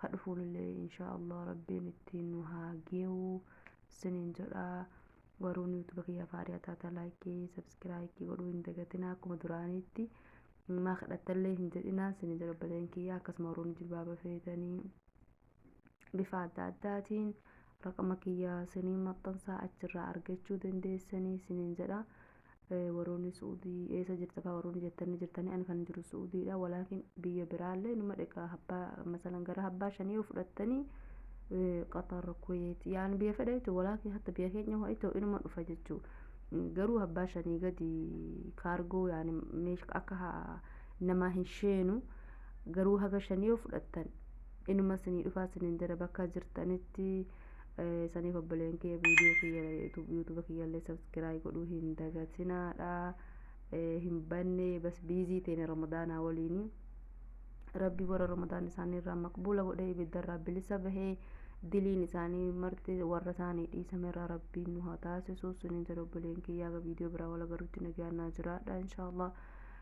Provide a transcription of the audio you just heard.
ka dhufuullee inshaa Allah rabbiin ittiin nu haa geewu siniin jedha waruun yuutuba kiyya faariyaa taata laayikii sabskiraayikii godhuu hin dagatina akkuma duraaniitti maa kadhattallee hin jedhinaa siniin jedha obboleen kiyya akkasuma waruun jilbaaba feetanii bifa adda addaatiin raqama kiyya siniin maxxansaa achirraa argachuu dandeessanii siniin jedha warooni su'udi eesa jirta ka warooni jettani jirtani ani kan jiru su'udiidha walaakin biyya biraalle numa dheqa habba masalan gara habbaa shanii yoo fudhattani qatar kuwait yaani biyya fedha jechu walaakin hatta biyya keenya ho'a itoo inuma dhufa jechu garuu habbaa shanii gadi kaargoo yaani meesh akka ha- namaa hin sheenu garuu haga shanii yoo fudhattan inuma sinii dhufaa sinin jedha bakka jirtanitti saniif obboleen kiyya viidiyoo kiyya yuutuuba kiyyallee sabskiraayib godhuu hin dagatinaadha hin banne bas biizii teene ramadaanaa waliini rabbi warra ramadaan isaanii irraa maqbuula godhee ibidda irraa bilisa bahee diliin isaanii marti warra isaanii dhiisame irraa rabbiin nu haa taasisu suniin jedha obboleen kiyyaa viidiyoo biraa wal agarutti nagaannaa jiraadha inshaallah